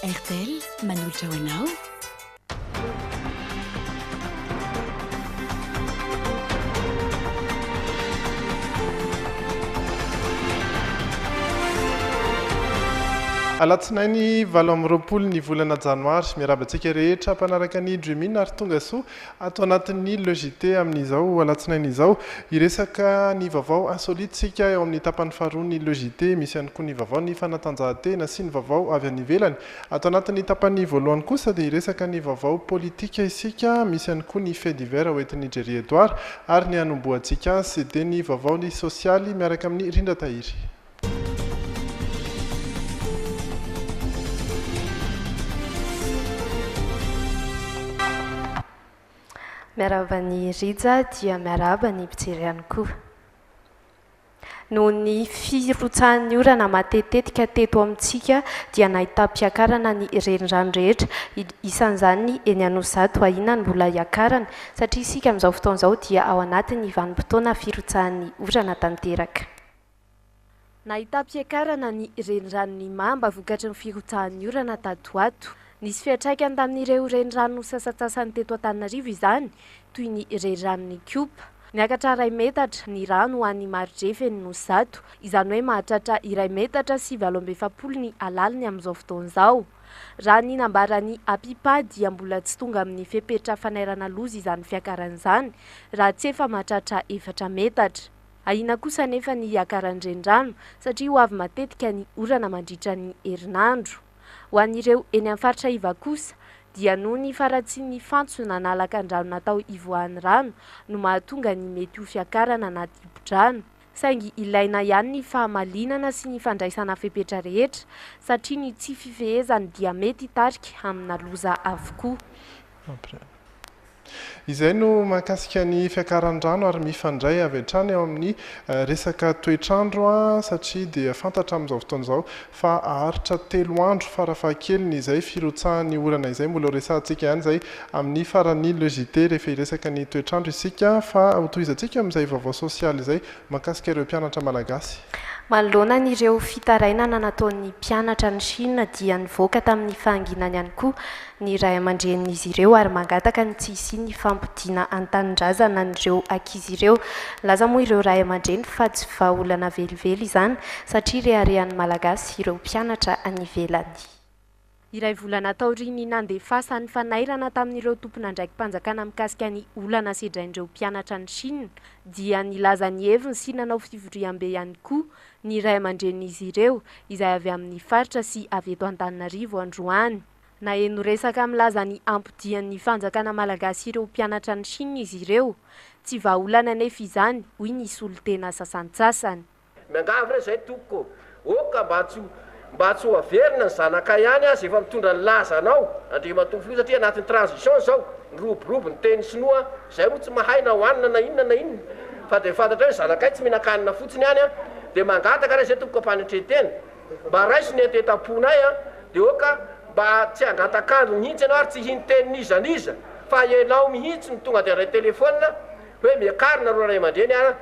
RTL manolotra ho anao. Alatsinainy valo amby roapolo ny volana janoary. Miaraba antsika rehetra mpanaraka ny Dream In ary tonga soa. Ato anatin'ny Le JT amin'izao alatsinainy izao, hiresaka ny vaovao insolite isika eo amin'ny tapany faharoa ny Le JT, misy ihany koa ny vaovao ny fanatanjahantena sy ny vaovao avy any ivelany. Ato anatin'ny tapany voalohany kosa dia hiresaka ny vaovao politika isika, misy ihany koa ny Fait divers hoentin'i Jerry Edouard ary ny hanombohantsika azy dia ny vaovaony sosialy miaraka amin'i Rindratahiry. Miarahaba an'i Rija dia miarahaba ny mpijery ihany koa. Noho ny firotsahan'ny orana matetitetika teto amintsika dia nahitam-piakarana ny renirano rehetra, isan'izany ny eny Anosizato, ahiana ny mbola hiakarany satria isika amin'izao fotoana izao dia ao anatin'ny vanim-potoana firotsahan'ny orana tanteraka. Nahitam-piakarana ny reniranon'i Mamba vokatry ny firotsahan'ny orana tato ho ato. Nisy fiantraikany tamin'ireo renirano sasantsasany teto Antananarivo izany, toy ny reniranon'Ikopa. Niakatra iray metatra ny rano ho an'ny Marotrefen'ny Nosy zato, izany hoe mahatratra iray metatra sy valo amby efapolo ny halaliny amin'izao fotoana izao. Raha ny nambaran'ny Apipa dia mbola tsy tonga amin'ny fepetra fanairana loza izany fiakarana izany, raha tsy efa mahatratra efatra metatra. Ahiana kosa anefa ny hiakaran'ny renirano satria ho avy matetika ny orana mandritra ny herinandro. Ho an'ireo eny amin'ny faritra iva kosa dia noho ny faharatsian'ny fantsona na lakandrano natao hivoahan'ny rano no mahatonga ny mety ho fiakarana na dibo-drano. Saingy ilaina ihany ny fahamalinana sy ny fandraisana fepetra rehetra satria ny tsy fifehezany dia mety hitarika amina loza avokoa. Izay no mahakasika ny fiakaran'ny rano ary mifandray avy hatrany eo amin'ny resaka toetr'andro satria dia fantatra amin'izao fotoana izao fa haharitra telo andro farafahakeliny izay firotsahan'ny orana izay, mbola horesahantsika ihany izay amin'ny faran'ny le JT rehefa hiresaka ny toetr'andro isika fa hotohizantsika amin'izay vaovao sosialy izay. Mahakasika ireo mpianatra malagasy. Manoloana an'ireo fitarainana nataon'ny mpianatra any Shina dia nivoaka tamin'ny fahanginany ihany koa ny ray aman-drenin'izy ireo ary mangataka ny tsy hisian'ny fampodiana an-tanindrazana an'ireo ankizy ireo. Nilaza moa ireo ray aman-dreny fa tsy vahaolana velively izany satria reharehan'ny Malagasy ireo mpianatra any ivelany. Iray volana taorian'ny nandefasan'ny fanairana tamin'ireo tompon'andraiki-panjakana mikasika ny olana sedrain'ireo mpianatra any Shina, dia nilaza ny heviny sy nanao fivoriambe ihany koa ny ray aman-drenin'izy ireo izay avy amin'ny faritra sy avy eto Antananarivo androany. Naheno resaka milaza ny hampodian'ny fanjakana malagasy ireo mpianatra any Shina izy ireo. Tsy vahaolana anefa izany, hoy ny solontena sasantsasany. Miangavy re zay tompoko ô! Ô ka mba tsy mba tsy ho averina ny zanakay any aza efa mitondra ny laza anao Andriamatoa filoha satria anatin'ny transition zao niroborobo ny teny sinoa zay moa tsy mahay na ho anina na inona na inona fa de fantatrao hoe zanakay tsy mihinan-kanina fotsiny any an de mangataka re zay tompoko ampanetren-tena mba raiso ny entetam-ponay an de ô ka mba tsy hangatak'andro mihitsy ianao ary tsy hino tenin'iza n'iza fa ianao mihitsy no tonga de handray telephone hoe miakarina ro ray aman-dreny an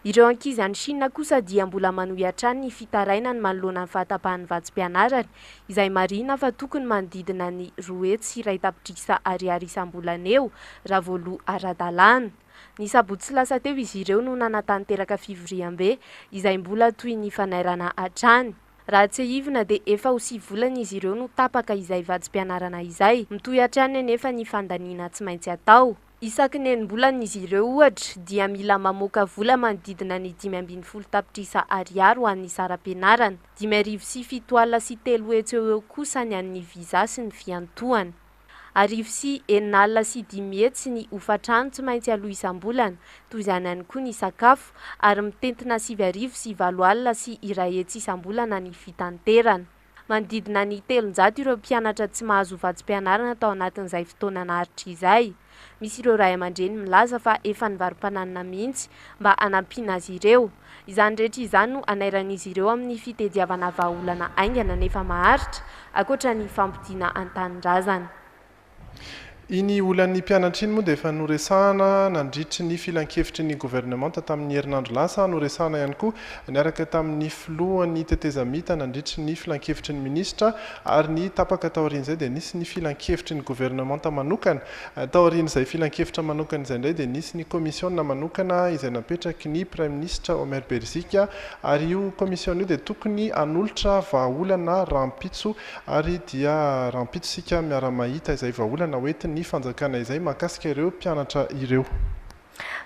Ireo ankizy any Shina kosa dia mbola manohy hatrany ny fitarainany manoloana ny fahatapahan'ny vatsim-pianarany, izay marihina fa tokony manodidina ny roa hetsy iray tapitrisa ariary isam-bolana eo, raha voaloa ara-dalàna. Ny sabotsy lasa teo izy ireo no nanatanteraka fivoriambe, izay mbola toy ny fanairana hatrany. Raha tsiahivina dia efa ho sivy volana izy ireo no tapaka izay vatsim-pianarana izay. Mitohy hatrany anefa ny fandaniana tsy maintsy atao. Isaky ny enim-bolana izy ireo, ohatra, dia mila mamoaka vola manodidina ny dimy ambin'ny folo tapitrisa Ariary ho an'ny saram-pianarana, dimy arivo sy fito alina sy telo hetsy eo eo kosa ny an'ny visa sy ny fiantohana. Arivo sy enina alina sy dimy hetsy ny hofan-trano tsy maintsy aloa isam-bolana, toy izany ihany koa ny sakafo, ary mitentina sivy arivo sy valo alina sy iray hetsy isam-bolana ny fitanterana. Manodidina ny telonjato ireo mpianatra tsy mahazo vatsim-pianarana tao anatin'izay fotoana naharitra izay. Misy ireo ray aman-dreny milaza fa efa nivarom-pananina mihitsy mba hanampiana azy ireo. Izany rehetra izany no anairan'izy ireo amin'ny fitediavana vahaolana haingana nefa maharitra, ankoatra ny fampodiana an-tanindrazana. Iny olan'ny mpianatra iny moa dia efa noresahana nandritry ny filankevitry ny governemanta tamin'ny herinandro lasa, noresahana ihany koa niaraka tamin'ny filohan'ny tetezamita nandritry ny filankevitry ny minisitra ary ny tapaka taorian'izay dia nisy ny filankevitry ny governemanta manokana. Taorian'izay filankevitra manokana izay indray dia nisy ny komisiona manokana izay napetraky ny praiminisitra Omer Berzika ary io komisiona io dia tokony hanolotra vahaolana rahampitso Ary dia rahampitso isika miara-mahita izay vahaolana ho entin'ny fanjakana izay mahakasika ireo mpianatra ireo.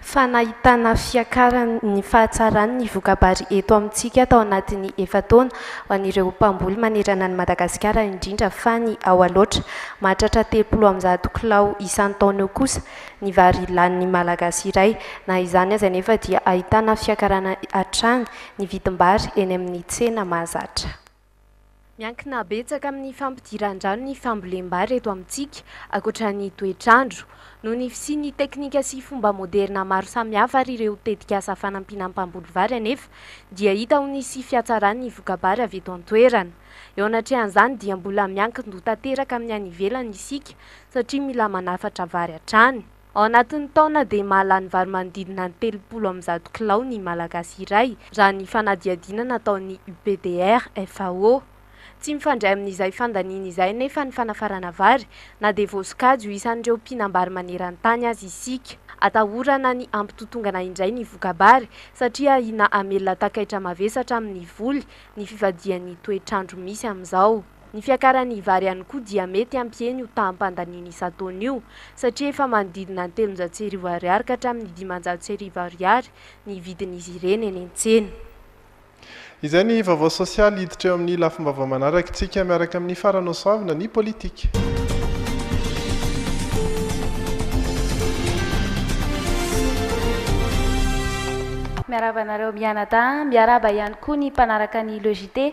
Fa nahitana fiakaran'ny fahatsaran'ny voka-bary eto amintsika tao anatin'ny efa-taona ho an'ireo mpamboly manerana an'i Madagasikara indrindra fa ny ao Alaotra. Mahatratra telopolo amby zato kilao isan-taona eo kosa ny vary lanin'ny Malagasy iray. Na izany aza anefa dia ahitana fiakarana hatrany ny vidim-bary eny amin'ny tsena mahazatra. Miankina betsaka amin'ny fampidiran-drano ny fambolem-bary eto amintsika, ankoatra ny toetr'andro. Noho ny fisian'ny teknika sy fomba moderina maro samihafa ary ireo tetikasa fanampiana ny mpamboly vary anefa dia hita ho nisy fihatsaran'ny voka-bary avy eto an-toerana. Eo anatrehan'izany dia mbola miankin-doha tanteraka amin'ny any ivelany isika satria mila manafatra vary hatrany. Ao anatin'ny taona dia mahalany vary manodidina ny telopolo amby zato kilao ny Malagasy iray, raha ny fanadihadiana nataon'ny UPDR, FAO. Tsy mifandray amin'izay fandaniana izay anefa ny fanafarana vary, na dia voasokajy ho isan'ireo mpinam-bary maneran-tany aza isika. Atahorana ny hampitotongana indray ny voka-bary, satria ahiana hamelona takaitra mavesatra amin'ny voly ny fivadihan'ny toetr'andro misy amin'izao. Ny fiakaran'ny vary ihany koa dia mety hampihena io taham-pandaniana isan-taona io, satria efa manodidina ny telonjato sy arivo ariary ka hatramin'ny dimanjato sy arivo ariary ny vidin'izy ireny eny an-tsena. Izay ny vaovao sosialy hiditra eo amin'ny lafim-baovao manarakitsika miaraka amin'ny Farah Nosoavina ny politika. Miarahaba anareo mianadahy an! Miarahaba ihany koa ny mpanaraka ny Le JT.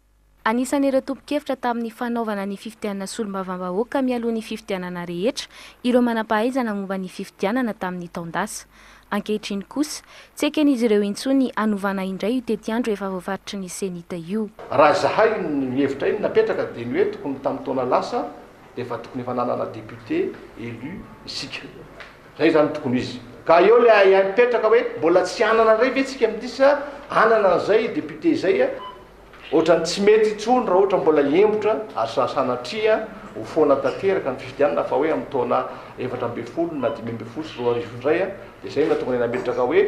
Anisan'ireo tompon-kevitra tamin'ny fanaovana ny fifidianana solombavambahoaka mialoha ny fifidianana rehetra ireo manam-pahaizana momba ny fifidianana tamin'ny taon-dasa. Ankehitriny kosa, tsy eken'izy ireo intsony hanovana indray io tetiandro efa voafaritry ny Cenit io. Raha izahay ny hevitra iny napetraka dia ny hoe tokony ny tamin'ny taona lasa dia efa tokony efa nanana député élu isika. Izay izany no tokony izy. Ka eo ilay ahiahy mipetraka hoe mbola tsy hanana indray ve isika amin'ity sa hanana an'izay député izay Ohatran'ny tsy mety intsony raha ohatra mbola hiembotra ary sa sanatria ho foana tanteraka ny fifidianana fa hoe amin'ny taona efatra ambin'ny folo na dimy ambin'ny folo sy roa arivo indray an, dia izay no nahatonga ny nametraka hoe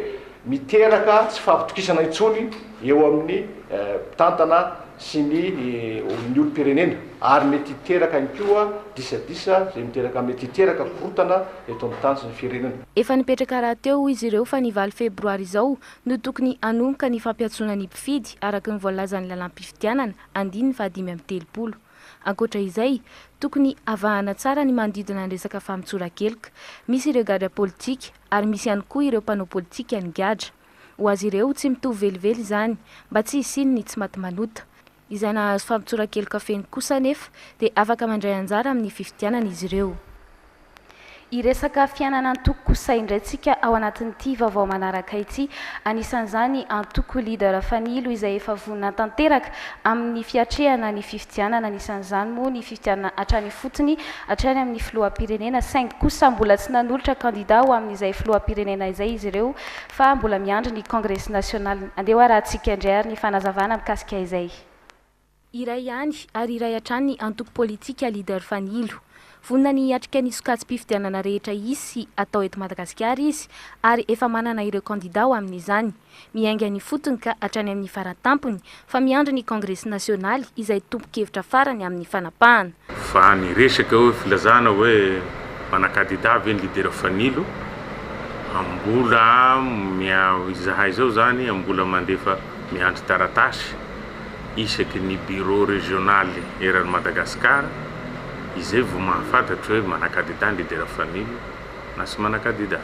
miteraka tsy fahatokisana intsony eo amin'ny mpitantana sy ny ny olom-pirenena ary mety hiteraka ihany koa disadisa izay miteraka mety hiteraka korontana eto amin'ny tany sy ny firenena. Efa nipetraka rahateo hoy izy ireo fa ny valo febroary izao no tokony hanomboka ny fampiantsoana ny mpifidy araka ny voalazan'ny lalàm-pifidianana, andininy fahadimy amby telopolo. Ankoatra izay, tokony havahana tsara ny manodidina ny resaka famotsora-keloka. Misy ireo gadra politika ary misy ihany koa ireo mpanao politika ny gadra. Ho azy ireo, tsy mitovy velively izany, mba tsy hisian'ny tsy maty manota. Izay nahazo fampitsoran-keloka feno kosa anefa dia afaka mandray anjara amin'ny fifidianana izy ireo. Hiresaka fiainana antoko kosa indray tsika ao anatin'ity vaovao manaraka ity. Anisan'izany antoko Leader Fanilo izay efa vonona tanteraka amin'ny fiatrehana ny fifidianana. Anisan'izany moa ny fifidianana hatrany ifotony, hatrany amin'ny filoham-pirenena saingy kosa mbola tsy nanolotra kandida ho amin'izay filoham-pirenena izay izy ireo. fa mbola miandry ny Congress National. Andeha ho arahantsika indray ary ny fanazavana mikasika izay. Iray ihany ary iray hatrany ny antoko politika Leader Fanilo. Vonona ny hiatrika ny sokajim-pifidianana rehetra hisy sy hatao eto Madagasikara izy ary efa manana ireo kandida ho amin'izany. Miainga ny fotony ka hatrany amin'ny fara-tampony fa miandry ny kongresy nasionaly izay tompon-kevitra farany amin'ny fanapahana. Fa ny resaka hoe filazana hoe mpanakadida ve ny lidera Fanilo, mbola izahay izao izany mbola mandefa miandry taratasy isaky ny bureau regionaly eran'i Madagasikara izay vao mahafantatro hoe manakadida ny lidera Fanilo na tsy manakadida.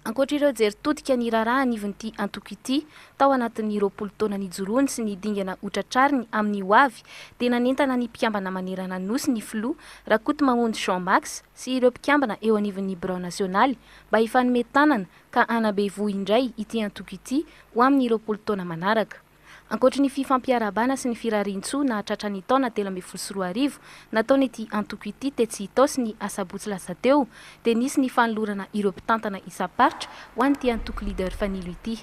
Ankoatra ireo jery todika ny raharaha anivon'ity antoko ity, Tao anatin'ny roapolo taona nijoroany sy ny dingana hotratrariny amin'ny ho avy dia nanentana ny mpikambana manerana ny Nosy ny filoha Rakotomamonjy Jean Max sy ireo mpikambana eo anivon'ny birao nasionaly mba hifanome tanana ka hanabe voho indray ity antoko ity ho amin'ny roapolo taona manaraka. Ankoatry ny fifampiarahabana sy ny firarian-tsoa nahatratra ny taona telo ambin'ny folo sy roa arivo nataon'ity antoko ity tetsy Itaosy ny asabotsy lasa teo dia nisy ny fanolorana ireo mpitantana isam-paritra ho an'ity antoko Leader Fanilo ity.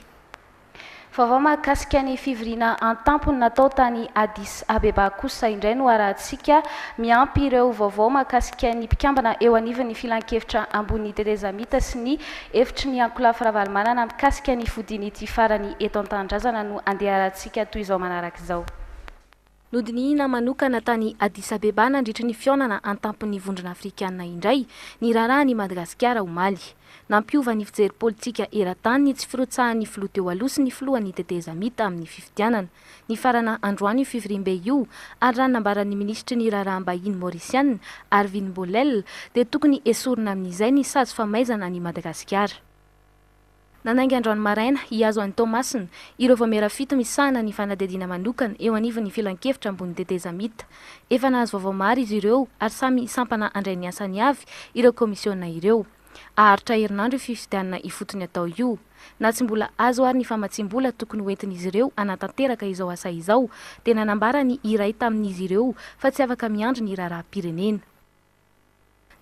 Vaovao mahakasika ny fivoriana an-tampony natao tany Addis Abeba kosa indray no harahantsika, miampy ireo vaovao mahakasika ny mpikambana eo anivon'ny Filankevitra Ambony Tetezamita sy ny Efitry ny Ankolafy Ravalomanana mikasika ny fodiany ity farany eto an-tanindrazana no andeharantsika toy izao manaraka izao. Nodinihina manokana tany Addis Abeba nandritry ny fihaonana an-tampon'ny Vondrona Afrikana indray ny raharahan' i Madagasikara omaly. Nampiova ny fijery politika eran-tany ny tsy firotsahan'ny filoha teo aloha sy ny filohan'ny tetezamita amin'ny fifidianana nifarana androany io fivoriambe io ary raha ny nambaran'ny minisitry ny raharaham-bahiny Maorisiana, Arvin Bolel, dia tokony hesorina amin'izay ny sazy famaizana an'i Madagasikara. Nanainga androany maraina, hihazo an'i Toamasina, ireo vaomiera fito misahana ny fanadihadiana manokana eo anivon'ny Filankevitra ambony tetezamita. Efa nahazo vaovao maro izy ireo ary samy sampana handray ny asany avy ireo kaomisiona ireo. Haharitra herinandro io fifidianana ifotony atao io. Na tsy mbola azo ary ny famatsiam-bola tokony hoentin'izy ireo hanatanteraka izao asa izao dia nanambara ny iray tamin'izy ireo fa tsy afaka miandry ny raharaham-pirenena.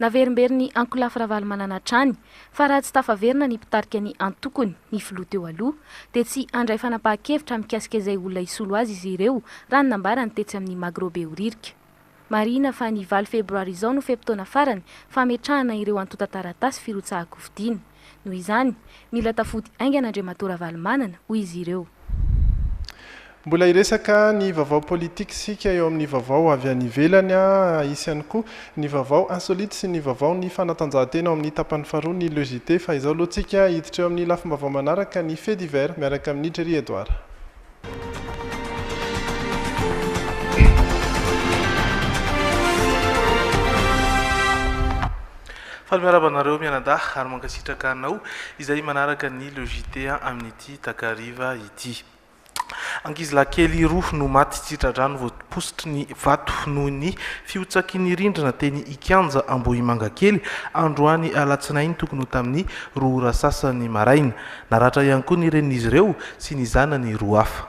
Naverimberin'i Ankolafy Ravalomanana hatrany fa raha tsy tafaverina ny mpitarika ny antokony, ny filoha teo aloha, dia tsy handray fanapahan-kevitra mikasika izay olona hisolo azy izy ireo raha ny nambarany tetsy amin'ny Magro Behoririka. Marihina fa ny valo febroary izao no fe-potoana farany fametrahana ireo antontan-taratasy firotsahan-kofidiana. Noho izany, mila tafody haingana Andriamatoa Ravalomanana, hoy izy ireo. Mbola hiresaka ny vaovao politique isika eo amin'ny vaovao avy any ivelany. Hisy ihany koa ny vaovao insolite sy ny vaovao ny fanatanjahantena ao amin'ny tapany faharoa ny Le JT fa izao aloha tsika hiditra eo amin'ny lafim-baovao manaraka ny Faits divers miaraka amin'i Jerry Edouard. Faly miarahaba anareo mianadahy ary mankasitraka anao izay manaraka ny Le JT amin'ity takariva ity. Ankizilahy kely roa no maty tsy tra-drano voapositry ny vato noho ny fihotsaky ny rindrina teny Ikianja Ambohimangakely androany alatsinainy tokony ho tamin'ny roa ora sasany maraina. Naratra ihany koa ny renin'izy ireo sy ny zanany roa hafa.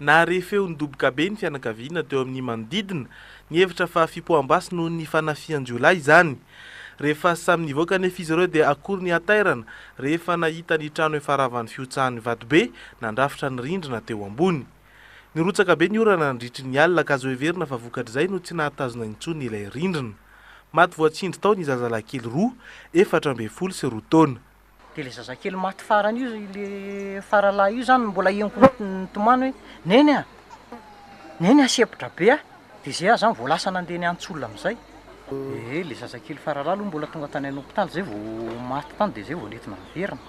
Nahare feo nidoboka be ny fianakaviana teo amin'ny manodidina, nihevitra fa fipoaham-basy noho ny fanafihan-jiolahy izany. Rehefa samy nivoaka anefa izy ireo dia akory ny hatairana rehefa nahita ny trano efa ravan'ny fihotsahan'ny vatobe nandrafitra ny rindrina teo ambony. Nirotsaka be ny orana nandritry ny alina ka azo heverina fa vokatr'izay no tsy nahatazona intsony ilay rindrina. Maty voatsindry tao ny zazalahy kely roa, efatra ambin'ny folo sy roa taona. Dia ilay zazakely maty farany io, ilay faralahy io izany no mbola henoko mihitsy ny nitomany hoe Neny a! Neny a! Sempotra be aho! Dia izay aho izany vao lasa nandeha niantsola amin'izay. Dia ilay zazakely faralahy aloha mbola tonga tany an'hopitaly, izay vao maty tany dia izay vao nentina niverina.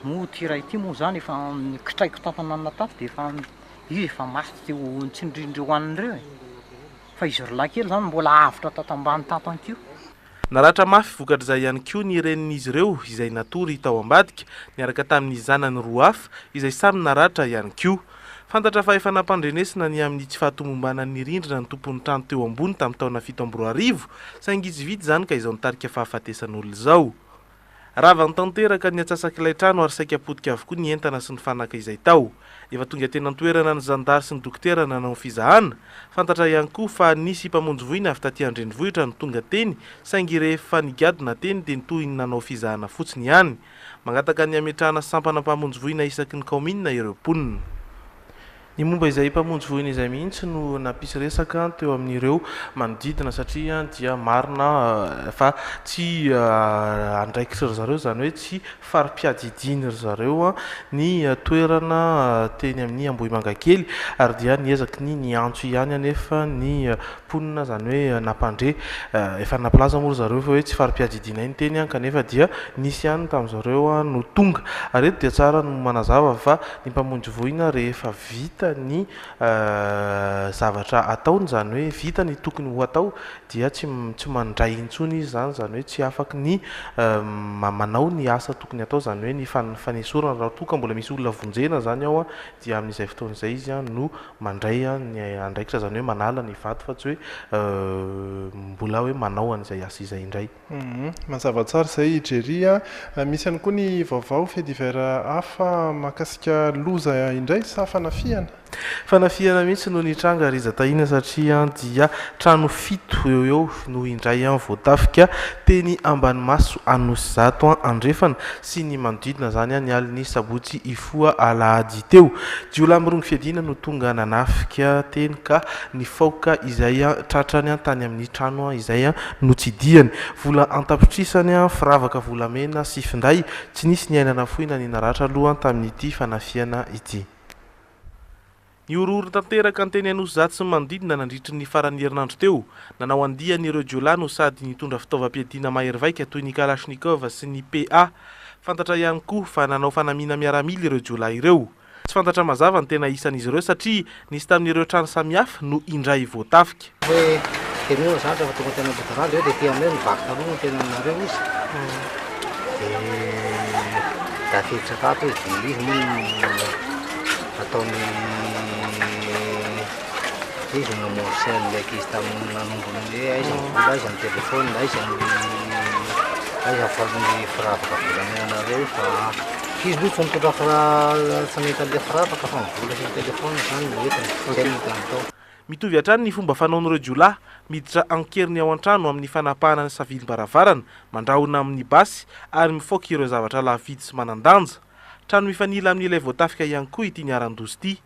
Moa ity iray ity moa izany efa nikitraiko tato ananona tato dia efa izy efa maty teo amin'ny tsindrindry hohaniny ireo e! Fa izy roa lahy kely izany mbola avotra tato ambany tato ihany koa. Naratra mafy vokatr'izay ihany koa ny renin'izy ireo izay natory tao ambadika, niaraka tamin'ny zanany roa hafa izay samy naratra ihany koa. Fantatra fa efa nampandrenesina ny amin'ny tsy fahatomombanan'ny rindrina ny tompon'ny trano teo ambony tamin'ny taona fito amby roa arivo, saingy tsy vita izany ka izao nitarika fahafatesan'olona izao. Ravany tanteraka ny atsasak'ilay trano ary saika potika avokoa ny entana sy ny fanaka izay tao. Efa tonga teny an-toerana ny zandary sy ny dokotera nanao ny fizahana. Fantatra ihany koa fa nisy mpamonjy voina avy taty an-drenivohitra no tonga teny saingy rehefa nigadona teny dia toy ny nanao fizahana fotsiny ihany. Mangataka ny hametrahana sampana mpamonjy voina isaky ny kaominina ireo mponina. Ny momba izay mpamonjy voina izay mihitsy no nampisy resaka teo amin'ireo manodidina satria dia marina fa tsy andraikitry ry zareo, izany hoe tsy fari-piadidian' ry zareo ny toerana teny amin'ny Ambohimangakely ary dia niezaky ny niantso ihany anefa ny mponina, izany hoe nampandre, efa nampilaza moa ry zareo fa hoe tsy fari-piadidianay ny teny kanefa dia nisy ihany tamin'izareo no tonga ary eto dia tsara ny manazava fa ny mpamonjy voina rehefa vita ny zavatra ataony, izany hoe vita ny tokony ho atao dia tsy tsy mandray intsony izy izany, izany hoe tsy afaka ny manao ny asa tokony atao, izany hoe ny fanesorana raha toa ka mbola misy olona vonjena izany ao dia amin'izay fotoana izay izy no mandray ny andraikitra, izany hoe manala ny vato fa tsy hoe mbola hoe manao an'izay asa izay indray. Humm mazava tsara izay i Jerry a! Misy ihany koa ny vaovao fait divers hafa mahakasika loza indray sa fanafihana? Fanafihana mihitsy no nitranga ry Zatahiana satria dia trano fito eo eo no indray voatafika teny Ambanimaso Anosizato andrefana sy ny manodidina izany ny alin'ny sabotsy hifoha alahady teo. Jiolahy mirongo fiadiana no tonga nanafika teny ka nifaoka izay tratrany tany amin'ny trano izay Notsidihany. Vola an-tapitrisany, firavaka volamena sy finday. Tsy nisy ny aina nafoy na ny naratra aloha tamin'ity fanafihana ity. Nihorohoro tanteraka ny teny Anosizato sy ny manodidina nandritry ny faran'ny herinandro teo. Nanao andiany ireo jiolahy no sady nitondra fitaovam-piadiana mahery vaika toy ny kalachnikov sy ny PA. Fantatra ihany koa fa nanao fanamiana miaramila ireo jiolahy ireo. Tsy fantatra mazava ny tena isan'izy ireo satria nisy tamin'ireo trano samihafa no indray voatafika. Hoe teneno zatra fa tonga teny Ambodirano eo dia ety aminay ny vaky taloha no tena ninareo izy dia tafiditra tato izy dia izy moa no ataony Mitovy hatrany ny fomba fanaon'ireo jiolahy miditra an-keriny ao an-trano amin'ny fanapahana ny savilim-baravarana, mandrahona amin'ny basy ary mifaoka ireo zavatra lafo vidy sy manan-danja. Trano mifanila amin'ilay voatafika ihany koa ity niharan-doza ity.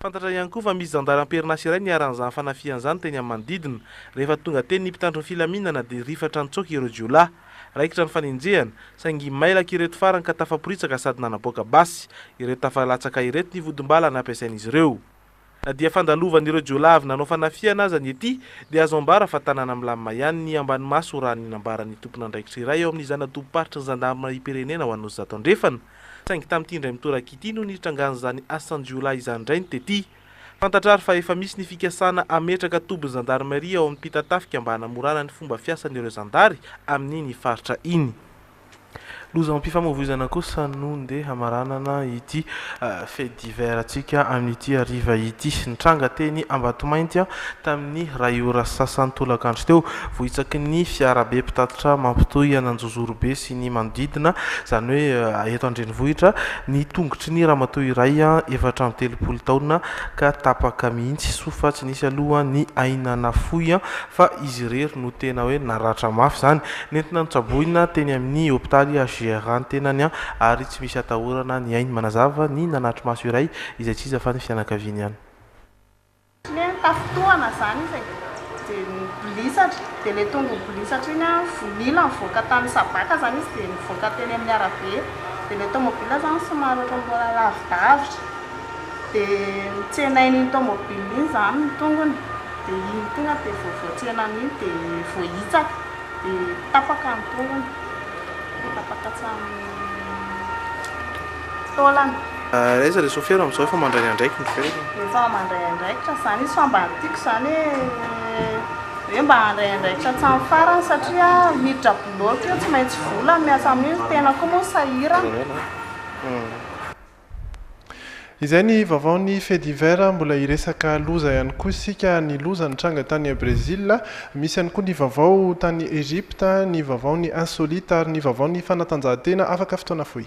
Fantatra ihany koa fa misy zandary am-perinasa iray niharan' izany fanafihana izany teny amin'ny manodidina. Rehefa tonga teny ny mpitandro ny filaminana dia rifatra nitsoaka ireo jiolahy. Raikitra ny fanenjehana, saingy mailaka ireto farany ka tafaporitsaka sady nanaboaka basy. Ireto tafalatsaka ireto ny vodim-bala nampiasain'izy ireo. Na dia fandalovan'ireo jiolahy avy nanao fanafihana aza ny ety dia azo ambara fa tanàna milamina ihany ny Ambanimaso raha ny nambaran'ny tompon'andraikitra iray ao amin'ny zana-tobim-paritry ny zandarimarim-pirenena ho an'Nosy Zato Andrefana, Saingy tamin'ity indray mitoraka ity no nitrangan'izany asan-jiolahy izany indray ny tety. Fantatra ary fa efa misy ny fikasana hametraka tobin'ny zandarimaria ao amin'ny Mpitatafika mba hanamorana ny fomba fiasan'ireo zandary amin'iny faritra iny. Lozam-pifamoivoizana kosa no ndeha hamaranana ity feedy. Hivearantsika amin'ity hariva ity. Nitranga teny Ambatomainty tamin'ny iray ora sasany tolakandro teo, vohitsaky ny fiarabe mpitatitra mampitohy an'Anjozorobe sy ny manodidina, izany hoe eto an-drenivohitra, ny tongotry ny ramatoa iray efatra amby telopolo taona ka tapaka mihitsy, soa fa tsy nisy aloha ny aina nafoy fa izy irery no tena hoe naratra mafy izany. Nentina notsaboina teny amin'ny hopitaly HJR ny tenany ary Tsy misy atahorana ny ainy manazava ny nanatri-maso iray izay tsy iza fa ny fianakaviany ihany. Le tafintohana zany izy de nibolisatra de le tonga nibolisatra iny an vonila nivoaka tany sabaka zany izy de nivoaka teny amin'ny arabe de le tomobile zany somary ohatran'ny mbola lavidavitra de notsenain'iny tomobile iny zany ny tongony de iny tonga de vao voatsena an'iny de voahitsaka. Ny tapaka ny tongony, ny tapaka hatramin'ny taolana. Aiza le sofera amizao efa mandray ny andraikiny ve le. Efa mandray andraikitra zany izy fa mba ny tiako zany hoe hoe mba handray andraikitra hatramin'ny farany satria miditra bloc io tsy maintsy vola miasa amin'io ny tenako koa moa sahirana. Izay ny vaovaon'ny Fait divers, mbola hiresaka loza ihany koa isika, ny loza nitranga tany Brésil, misy ihany koa ny vaovao tany Egypte, ny vaovaon'ny insolite ary ny vaovaon'ny fanatanjahantena afaka fotoana fohy.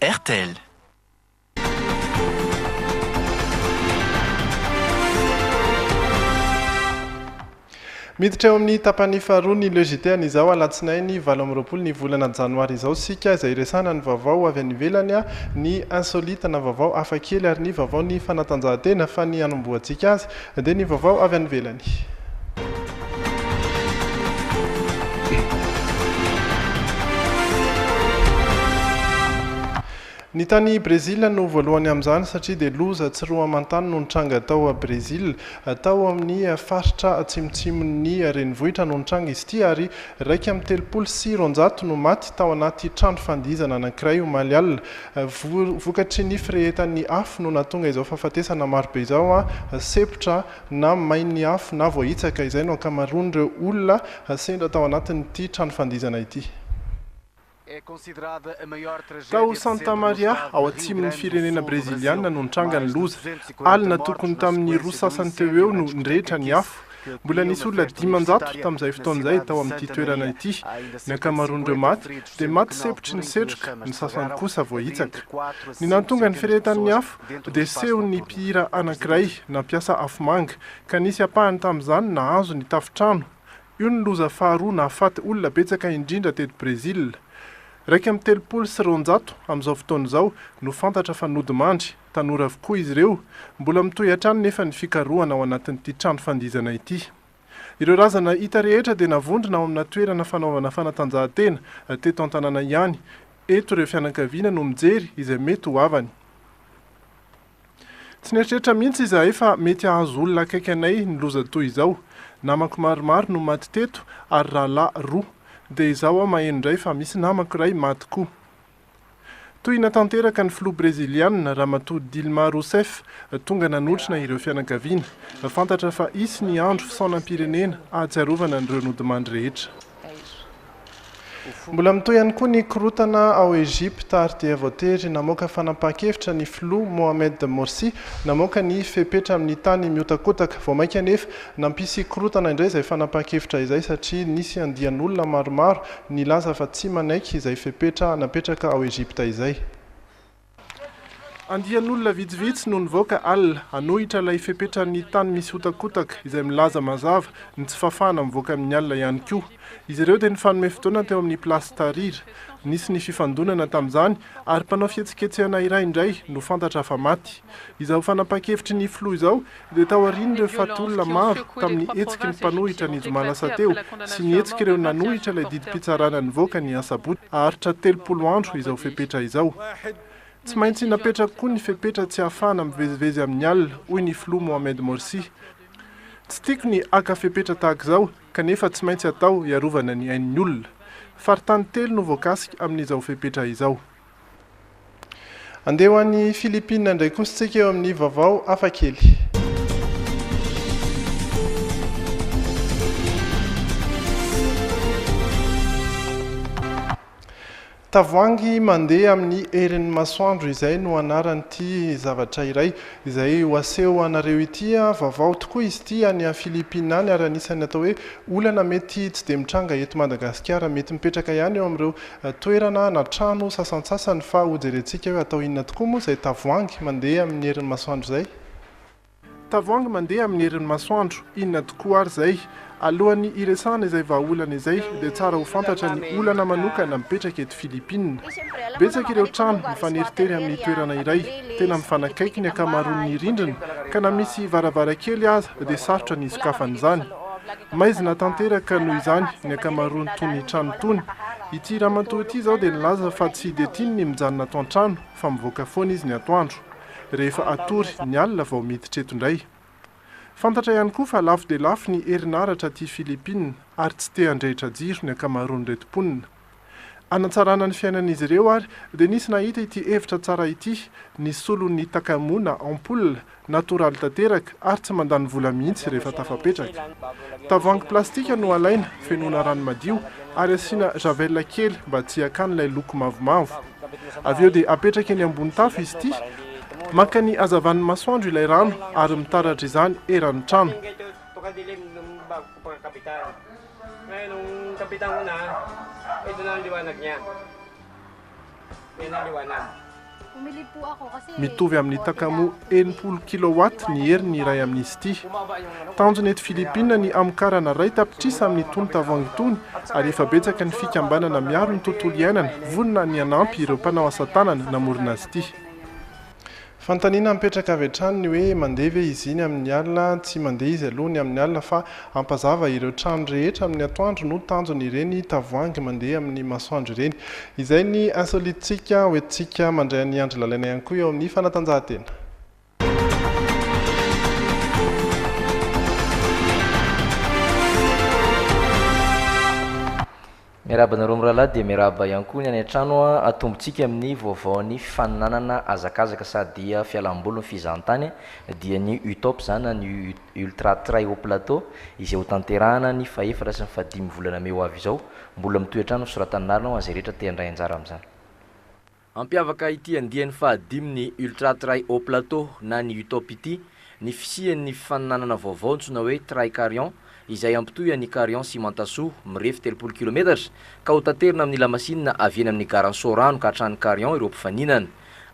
rtl. Miditra eo amin'ny tapany faharoa ny Le JT an'izao alatsinainy valo amby roapolo ny volana janoary izao isika izay iresahana ny vaovao avy any ivelany, ny insolite na vaovao hafakely ary ny vaovao ny fanatanjahantena fa ny hanombohantsika azy Dia ny vaovao avy any ivelany. Ny tany Brezila no voalohany amin'izany satria dia loza tsy roa aman-tany no nitranga tao Brezila. Tao amin'ny faritra atsimotsimon'ny renivohitra no nitranga izy ity ary iraika amby telopolo sy roanjato no maty tao anaty trano fandihizana anankiray omaly alina. Vokatry ny firehetan'ny afo no nahatonga izao fahafatesana marobe izao, sepotra na may ny afo na voahitsaka, izay no ankamaroan'ireo olona sendra tao anatin'ity trano fandihizana ity. Tao Santa Maria, ao atsimon'ny firenena Breziliana no nitranga ny loza. Alina tokony tamin'ny roa sasany teo ho eo no nirehitra ny afo. Mbola nisy olona dimanjato tamin'izay fotoana izay tao amin'ity toerana ity. Ny ankamaroan'ireo maty dia maty sempotry ny setroka, ny sasany kosa voahitsaka. Ny nahatonga ny firehetan'ny afo dia sehon'ny mpihira anankiray nampiasa afomanga, ka nisy ampahany tamin'izany nahazo ny tafontrano. Io no loza faharoa nahafaty olona betsaka indrindra teto Brezila. Iraika amby telopolo sy roanjato amin'izao fotoana izao no fantatra fa nodimandry. Tanora avokoa izy ireo, mbola mitohy hatrany nefa ny fikarohana ao anatin'ity trano fandihizana ity. Ireo razana hita rehetra dia navondrona ao amina toerana fanaovana fanatanjahantena teto an-tanàna ihany. Eto ireo fianakaviana no mijery izay mety ho havany. Tsy nieritreritra mihitsy izahay fa mety hahazo olona akaiky anay ny loza toy izao. Namako maromaro no maty teto ary rahalahy roa. Dia izaho aho maheno indray fa misy namako iray maty koa. Tohina tanteraka ny filoha breziliana, Ramatoa Dilma Rousseff, tonga nanotrona ireo fianakaviana. Fantatra fa hisy ny andro fisaonam-pirenena ahatsiarovana an'ireo nodimandry rehetra. Mbola mitohy ihany koa ny korontana ao Egypta ary dia voatery namoaka fanapahan-kevitra ny filoha Mohamed Morsi namoaka ny fepetra amin'ny tany mihotakotaka. Vao mainka anefa Nampisy korontana indray izay fanapahan-kevitra izay satria nisy andian'olona maromaro nilaza fa tsy manaiky izay fepetra napetraka ao Egypta izay. Andian'olona vitsivitsy no nivoaka alina hanohitra ilay fepetran'ny tany misy hotakotaka izay milaza mazava ny tsy fahafahana mivoaka amin'ny alina ihany koa. Izy ireo dia nifanome fotoana teo amin'ny Place Tahrir. Nisy ny fifandonana tamin'izany ary mpanao fihetsiketsehana iray indray no fantatra fa maty. Izao fanapahan-kevitry ny filoha izao dia taorian'ireo fatin'olona maro tamin'ny hetsiky ny mpanohitra ny zoma lasa teo sy ny hetsik'ireo nanohitra ilay didim-pitsarana nivoaka ny asabotsy haharitra telopolo andro izao fepetra izao. Tsy maintsy napetrako koa ny fepetra tsy hahafahana mivezivezy amin'ny alina, hoy ny filoha Mohamed Morsi. Tsy tiako ny haka fepetra tahaka izao, kanefa tsy maintsy atao hiarovana ny ain'ny olona. Faritany telo no voakasika amin'izao fepetra izao. Andeha ho any Philippines indray kosa isika eo amin'ny vaovao hafa kely. Tavoahangy mandeha amin'ny herin'ny masoandro izay no anaran'ity zavatra iray izay ho aseho anareo ity. Vaovao tokoa izy ity any Philippines any ary anisan'ny atao hoe olana mety tsy dia mitranga eto Madagasikara. Mety mipetraka ihany eo amin'ireo toerana na trano sasantsasany fa hojerentsika hoe atao inona tokoa moa izay tavoahangy mandeha amin'ny herin'ny masoandro izay? Tavoahangy mandeha amin'ny herin'ny masoandro, inona tokoa ary izay? Alohan'ny hiresahana izay vahaolana izay dia tsara ho fantatra ny olana manokana mipetraka eto Filipina. Betsaka ireo trano mifaneritery amin'ny toerana iray, tena mifanakaiky ny ankamaroan'ny rindrina ka na misy varavarankely aza dia sarotra ny hisokafan'izany. Maizina tanteraka noho izany ny ankamaroan'itony trano itony. Ity ramatoa ity izao dia nilaza fa tsy dia tiany ny mijanona ato an-trano fa mivoaka foana izy ny atoandro. Rehefa hatory ny alina vao miditra eto indray. Fantatra ihany koa fa lafo dia lafo ny herinaratra aty Philippines ary tsy te handrehitra jiro ny ankamaroan'ireto mponina. Hanatsarana ny fiainan'izy ireo ary dia nisy nahita ity hevitra tsara ity, ny solon'ny Takamu na ampoule, natoraly tanteraka ary tsy mandany vola mihitsy rehefa tafapetraka. Tavoahangy plastika no alaina, fenoina rano madio ary asiana javel kely mba tsy hiakany ilay loko mavomavo. Avy eo dia apetraka eny ambony tafo izy ity, maka ny hazavan'ny masoandro ilay rano ary mitaratra izany eran'ny trano. Mitovy amin'ny Takamo enimpolo kilowatt ny heriny iray amin'izy ity. Tanjona eto Filipina ny hamokarana iray tapitrisa amin'ny tony tavoahangy itony ary efa betsaka ny fikambanana miaro ny tontolo iainana vonona ny hanampy ireo mpanao asa tanana namorona azy ity. Fanontaniana mipetraka avy hatrany ny hoe mandeha ve izy iny amin'ny alina? Tsy mandeha izy aloha ny amin'ny alina fa hampazava ireo trano rehetra amin'ny atoandro no tanjony ireny tavoahangy mandeha amin'ny masoandro ireny. Izay ny insolite-tsika ho entintsika mandray an'i Andry Lalaina ihany koa eo amin'ny fanatanjahantena. Miarahaba anareo mirahalahy dia miarahaba ihany koa ny any an-trano a! Atombontsika amin'ny vaovaon'ny fifaninanana hazakazaka sa dia fialam-boly ny fizahantany dia ny UTOP izany na ny Ultra Trail Haut Plateau izay ho tanterahana ny fahefatra sy ny fahadimy volana mey ho avy izao. Mbola mitohy hatrany ny fisoratan'ny lalana ho an'izay rehetra te handray anjara amin'izany. Ampiavaka ity andiany fahadimy ny Ultra Trail Haut Plateau na ny UTOP ity ny fisian' ny fifaninanana vaovao antsoina hoe Trail Carion izay hampitohy an' i Carion sy Mantasoa, mirefy telopolo kilometatra, ka hotaterina amin' ny lamasinina avy eny amin' ny Garan' Soarano ka hatrany Carion ireo mpifaninana.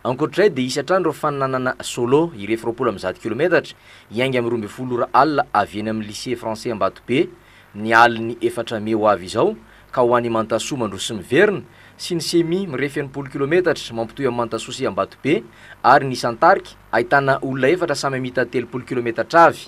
Ankoatra izay dia hisy hatrany ireo fifaninanana solo, hirefy roapolo amby zato kilometatra, hiainga amin'ny roa ambin'ny folo ora alina avy eny amin' ny Lycée Français Ambatobe, ny alin'ny efatra mey ho avy izao ka ho any Mantasoa mandroso miverina sy ny semi mirefy enimpolo kilometatra mampitohy amin'i Mantasoa sy Ambatobe ary ny isan-tarika ahitana olona efatra samy hamita telopolo kilometatra avy.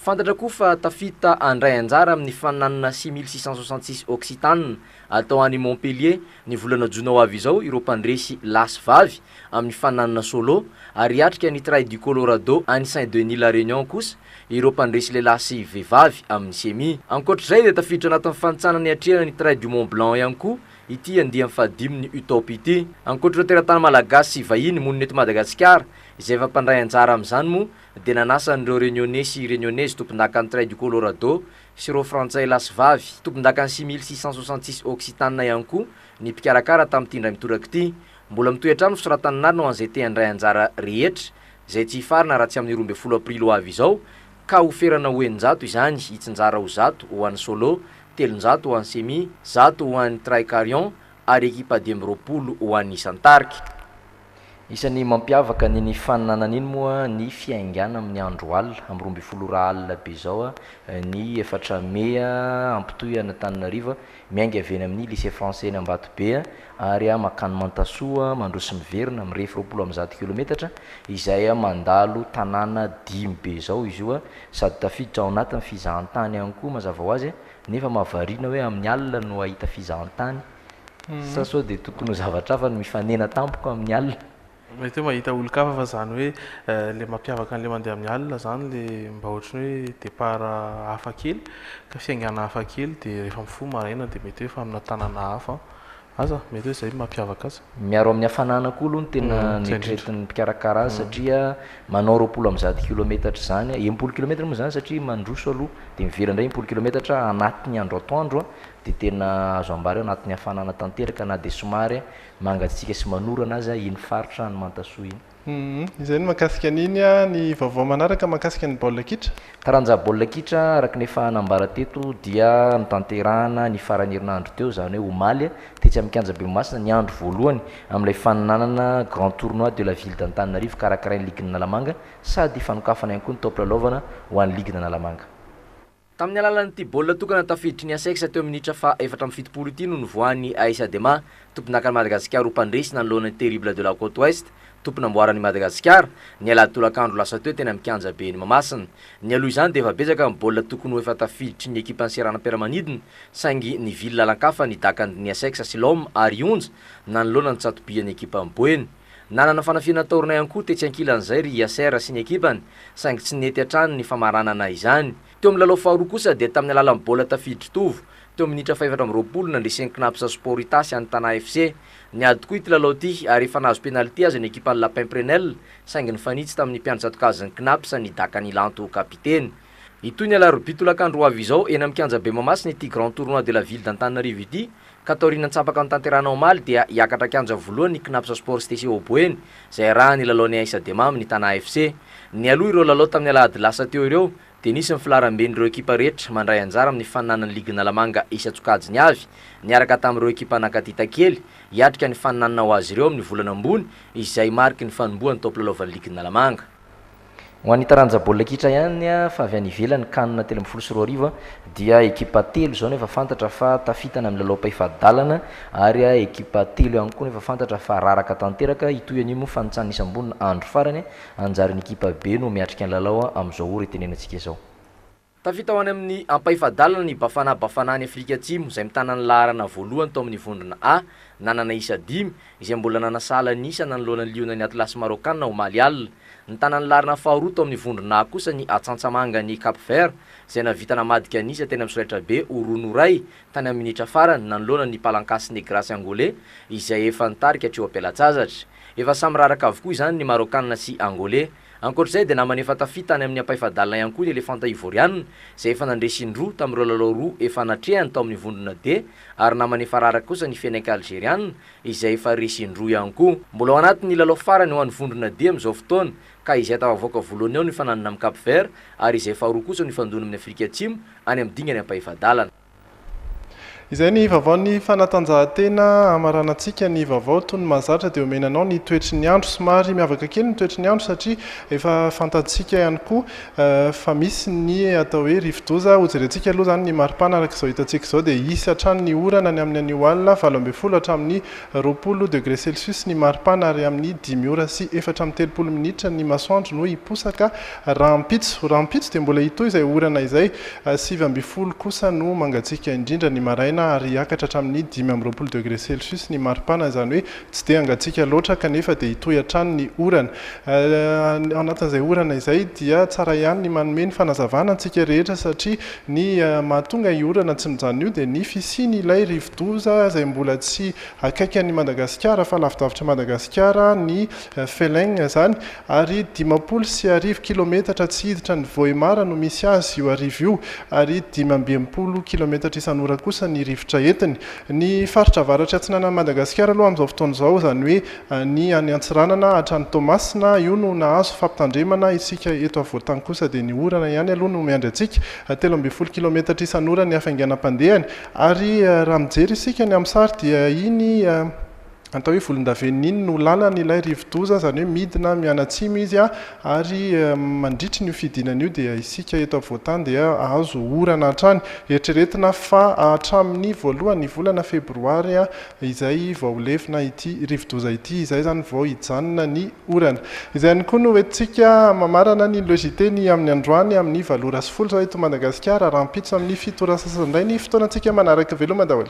Fantatra koa fa tafita handray anjara amin'ny faninanana six mille six cent soixante six Occitane atao any Montpellier ny volana jona ho avy izao ireo mpandresy lahy sy vavy amin'ny faninanana solo ary hiatrika ny Trail du Colorado any Saint-Denis-la-Réunion kosa Ireo mpandresy lehilahy sy vehivavy amin'ny Cemi. Ankoatr'izay dia tafiditra anatin'ny fantsana niatrehana ny Trail du Mont Blanc ihany koa ity andiany fahadimin'ny UTOP ity. Ankoatr'ireo teratany malagasy sy vahiny monina eto Madagasikara izay efa mpandray anjara amin'izany moa dia nanasa an'ireo Reunionnais sy Reunionnaises tompondakan'ny Trail du Colorado sy ireo Frantsay lahy sy vavy tompondakan'ny six mille six cent soixante six Occitane ihany koa ny mpikarakara tamin'ity indray mitoraka ity. Mbola mitohy hatrany ny fisoratan'ny anarana ho an'izay te-handray anjara rehetra izay tsy hifarana raha tsy amin'ny roa ambin'ny folo aprily ho avy izao, ka ho ferana ho eninjato izany, hitsinjara ho zato ho an'ny Solo, telonjato ho an'ny Semi, zato ho an'ny Tricarion ary ekipa dimy roapolo ho an'ny Isan-tarika. Isan'ny mampiavaka ny ny faninana an'iny moa ny fiaingàna amin'ny andro alina, amin'ny roa ambin'ny folo ora alina be izao ny efatra mey, hampitohy an'Antananarivo. Miainga avy eny amin'ny Lycée Français eny Ambatobe ary mankany Mantasoa mandroso miverina mirefy roapolo amby zato kilometatra izay mandalo tanàna dimy be izao izy io sady tafiditra ao anatin'ny fizahantany ihany koa mazava ho azy nefa mahavariana hoe amin'ny alina no hahita fizahantany sa sao dia tokony ho zavatra hafa no mifanena tampoka amin'ny alina? Mety hoe mahita olon-kafa fa zany hoe le mampiavaka anle mandeha amin'ny alina zany le mba ohatran'ny hoe départ hafa kely ka fiaingana hafa kely de rehefa mifoha maraina de mety hoe faminà tanana hafa aza mety hoe zay mampiavaka azy. Miaro amin'ny hafanana koa aloha no tena neritreretin'ny mpikarakara azy satria manao roapolo amby zato kilometatra izany a, enimpolo kilometatra moa izany satria mandroso aloha dia miverina indray enimpolo kilometatra anatin'ny andro atoandro dia tena azo ambara hoe anatin'ny hafanana tanteraka na dia somary Mangatsiaka sy manorana aza iny faritra any Mantasoa iny. Humm. Izay ny mahakasika an'iny a. Ny vaovao manaraka mahakasika ny baolina kitra? Taranja baolina kitra, araka ny efa nambara teto, dia notanterahana ny faran'ny herinandro teo, izany hoe omaly, tetsy amin'ny kianja Behomasina, ny andro voalohany amin'ilay faninanana Grand Tournoi de la Ville d'Antananarivo karakarain'ny ligin'Analamanga sady fanokafana ihany koa ny taom-pilalaovana ho an'ny ligin'Analamanga. Tamin'ny alalan'ity baolina tokana tafiditry ny Asex teo amin'ny minitra faha efatra amby fitopolo ity no nivoahan'i Aïssa Dema, tompondakan'i Madagasikara ho mpandresy nanoloana ny Terribles de la Côte Ouest, tompon'amboaran'i Madagasikara, ny alahady tolakandro lasa teo teny amin'ny kianja ben'i Mahamasina. Nialoha izany dia efa betsaka ny baolina tokony ho efa tafiditry ny ekipan'ny seranam-piaramanidina saingy nivily lalan-kafa ny dakan'dny Asex sy Lom ary Onja nanoloana ny tsatobian'ny ekipan'i Boeny. Nanana fanafihana taorina ihany koa tetsy ankilan'izay ry Yasser sy ny ekipany saingy tsy nety hatrany ny famaranana izany. Teo amin'ny lalao faharoa kosa dia tamin'ny alalan'ny baolina tafiditry Tovo, teo amin'ny minitra fahefatra amby roapolo, nandresen'ny Cnaps Sport Itasy an'ny Tana FC. Niady tokoa ity lalao ity ary efa nahazo penalty aza ny ekipan'i Lapin Prenel saingy nifanitsy tamin'ny mpiandry tsatokazin'ny Cnaps ny Daka Nilanto, kapiteny. Hitohy ny alarobia tolakandro ho avy izao eny amin'ny kianjabe Mahamasina ity Grand Tournoi de la Ville d'Antananarivo ity ka taorian'ny antsapaka notanterahina omaly dia hiakatra kianja voalohany ny Cnaps Sport Stecia ao Boeny izay hiarahan'ny lalaon'ny Aissa Dema amin'ny Tana FC. Nialoha ireo lalao tamin'ny alahady lasa teo ireo dia nisy ny filaharamben'ireo ekipa rehetra mandray anjara amin'ny faninanan'ny ligy Analamanga isan-tsokajiny avy niaraka tamin'ireo ekipa nankaty takely hiatrika ny faninanana ho azy ireo amin'ny volana ambony izay mariky ny fanombohan'ny taom-pilalaovan'ny ligin'Analamanga. Ho an'ny taranja baolina kitra ihany fa avy any ivelany, Can telo ambin'ny folo sy roa arivo, dia ekipa telo izao no efa fantatra fa tafita any amin'ny lalaom-pahefadalana ary ekipa telo ihany koa no efa fantatra fa raraka tanteraka. Hitohy anio moa fanintsan'ny isam-bolana andro farany hanjary ny ekipa be no miatrika ny lalao amin'izao ora itenenantsika izao. Tafita ho any amin'ny ampahefa-dalana ny Bafana Bafana any Afrika Atsimo, izay mitana ny laharana voalohany tao amin'ny vondrona A, nanana isa dimy, izay mbola nanasahala ny isa nanoloana ny Liona ny Atlas Maraokana omaly alina. Nitana ny laharana faharoa tao amin'ny vondrona A kosa ny Atsantsamanga any Cap Vert, izay nahavita namadika ny isa teny amin'ny solaitrabe ho roa noray tany amin'ny minitra farany nanoloana ny Palancas Negras Angolais, izay efa nitarika hatreo am-pelatsazatra. Efa samy raraka avokoa izany ny Maraokana sy Angolais. Ankoatra izay dia namana efa tafita tany amin'ny ampahefa-dalana ihany koa ny elefanta Ivoriana izay efa nandresy in-droa tamin'ireo lalao roa efa natrehany tao amin'ny vondrona D ary namana efa raraka kosa ny Fenech Algeriana izay efa resy in-droa ihany koa. Mbola ao anatin'ny lalao farany ho an'ny vondrona D amin'izao fotoana ka izay tafavoaka voalohany ao no hifananana amin'i Cap Vert ary izay faharoa kosa no hifandona amin'ny Afrika Atsimo any amin'ny dingana ampahefa-dalana. Izay ny vaovaon'ny fanatanjahantena hamaranantsika ny vaovao tony mahazatra dia omena anao ny toetry ny andro. Somary miavaka kely ny toetry ny andro satria efa fantantsika ihany koa fa misy ny atao hoe rivodoza. Hojerentsika aloha izany ny maripana araka izao hitantsika izao dia hisy hatrany ny orana ny amin'ny anio alina valo ambin'ny folo hatramin'ny roapolo degré celsius ny maripana ary amin'ny dimy ora sy efatra amby telopolo minitra ny masoandro no hiposaka Rahampitso, rahampitso dia mbola hitohy izay orana izay. Sivy ambin'ny folo kosa no mangatsiaka indrindra ny maraina ary hiakatra hatramin'ny dimy amby roapolo degré celsius ny maripana, izany hoe tsy dia hangatsiaka loatra kanefa dia hitohy hatrany ny orana. Ao anatin'izay orana izay dia tsara ihany ny manome ny fanazavana antsika rehetra satria ny mahatonga io orana tsy mijanona io dia ny fisian'ilay rivodoza izay mbola tsy akaiky an'i Madagasikara fa lavidavitra Madagasikara ny Feleng izany, ary dimampolo sy arivo kilometatra tsy hiditra any Vohemar no misy azy io arivo io, ary dimy amby enimpolo kilometatra isan'ora kosa ny rivotra entiny. Ny faritra avaratry atsinanan'i Madagasikara aloha amin'izao fotoana izao, izany hoe ny any Antsiranana hatrany Toamasina, io no nahazo fampitandremana, isika eto afovoantany kosa dia ny orana ihany aloha no miandry antsika, telo ambin'ny folo kilometatra isan'ora ny hafainganam-pandehany, ary raha mijery isika ny amin'ny sary dia iny. Atao hoe volondavenona iny no lalany ilay rivodoza, izany hoe midina mianatsimo izy ary mandritry n'io fidinana io dia isika eto afovoantany dia ahazo orana hatrany. Eritreretina fa hatramin'ny voalohan'ny volana febroary izay vao ho levona ity rivodoza ity, izay izany vao hijanona ny orana. Izay ihany koa no hoentintsika mamarana ny logiteny amin'ny androany amin'ny valo ora sy folo zao eto Madagasikara, rahampitso amin'ny fito ora sasany indray ny fotoanantsika manaraka. Veloma daholo.